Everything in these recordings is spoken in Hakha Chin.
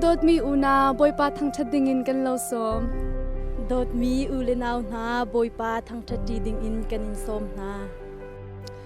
dawtmi unau Bawipa thangṭhat dingin kan lo sawm. Dawtmi u le nau hna Bawipa thangṭhat ṭi dingin kan in sawm hna.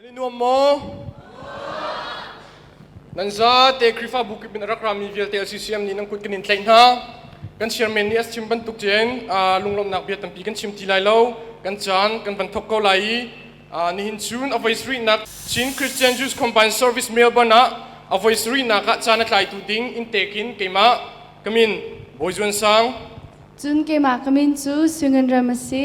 Nan i nuam maw? Nan zate Khrihfabu kip in a rak rami vialte LCCM nih nan kut kan in tlaih hna. Kan chairman nih a chim bantuk cun aa, lunglawmhnak bia tampi kan chim ti lai lo. Kan caan kan van thawk ko lai i aa, nihin cun a voisarihnak Chin Christian Jews Combined Service Melbourne ah a voisarihnak ah caan a tlaitu ding in tek in keimah ka min Bawi Zuan Sang, Cun keimah ka min cu Sung Ngan Ram a si.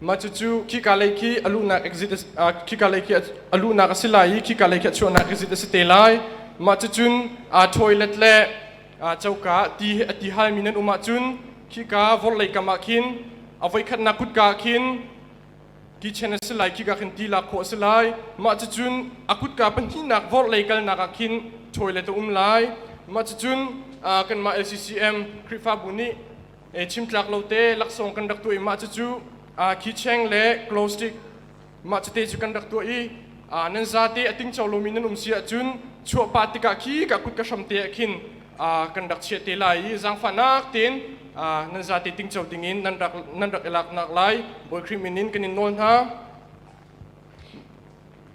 Mah cucu khika lei khi a luhnak exit khika lei khi a luhnak a si lai i khika lei khi a chuahnak exit a si te lai. Mah cucun aa toilet le aa coka ti he a ti halmi nan um ahcun khika vorlei kam ah khin a voikhatnak kutka ah khin kitchen a si lai khika khin ti lak khawh a si lai mah cucun a kutka pahnihnak vorlei kalnak ah khin toilet a um lai mah cucun kanmah LCCM Khrihfabu nih e chimtlak lo te laksawng kan rak tuah i mah cucu khicheng le glow stick mah cute cu kan rak tuah i nan zate a tingco lomi nan um si ahcun chuahpa tikah khi ka kut ka hram te ah khin kan rak chiah te lai i zangfahnak tein nan zate tingco dingin nan rak nan rak i laknak lai bawikrim in in kan in nawl hna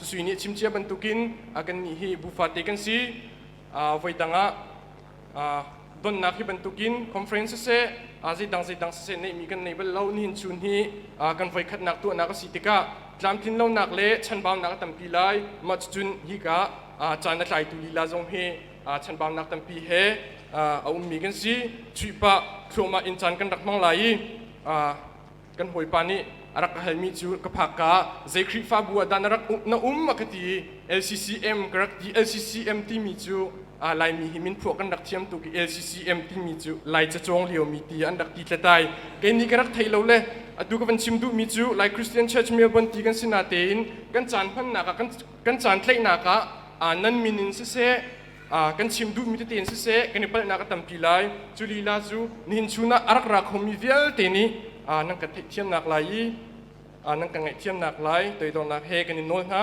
Sui nih chimcia bantukin kannih hi bu fate kan si. Voidang ah donnak hi bantukin conference siseh, zeidang zeidang siseh neihmi kan nei bal lo. Nihin chun hi kan voikhatnak tuahnak a si tikah tlamtlinlonak le chanbaunak a tampi lai. Mah cucun hika caan a tlaitu lila zong hi chanbaunak tampi he a ummi kan si. Chuihpah thluahmah in caan kan rak hmang lai i kan hawipa nih a rak ka halmi cu ka phak ka zei Khrihfabu ah dah na rak na um a ka ti i LCCM ka rak ti LCCM timi cu Laimi hi minphuah kan rak thiam tuk i LCCM timi cu Lai cacawng liomi ti an rak ti tletai kei nih ka rak thei lo le atu ka van chim duhmi cu Lai Christian Church Melbourne ti kan si na tein kan caan hmannak ah kan caan tlaihnak ah nan min in siseh kan chim duhmi tete in siseh kan i palhnak a tampi lai cu lila cu nihin chun ah a rak ra khomi vialte nih nan ka theihthiamnak lai i nan ka ngaihthiamnak lai toidornak he kan i nawl hna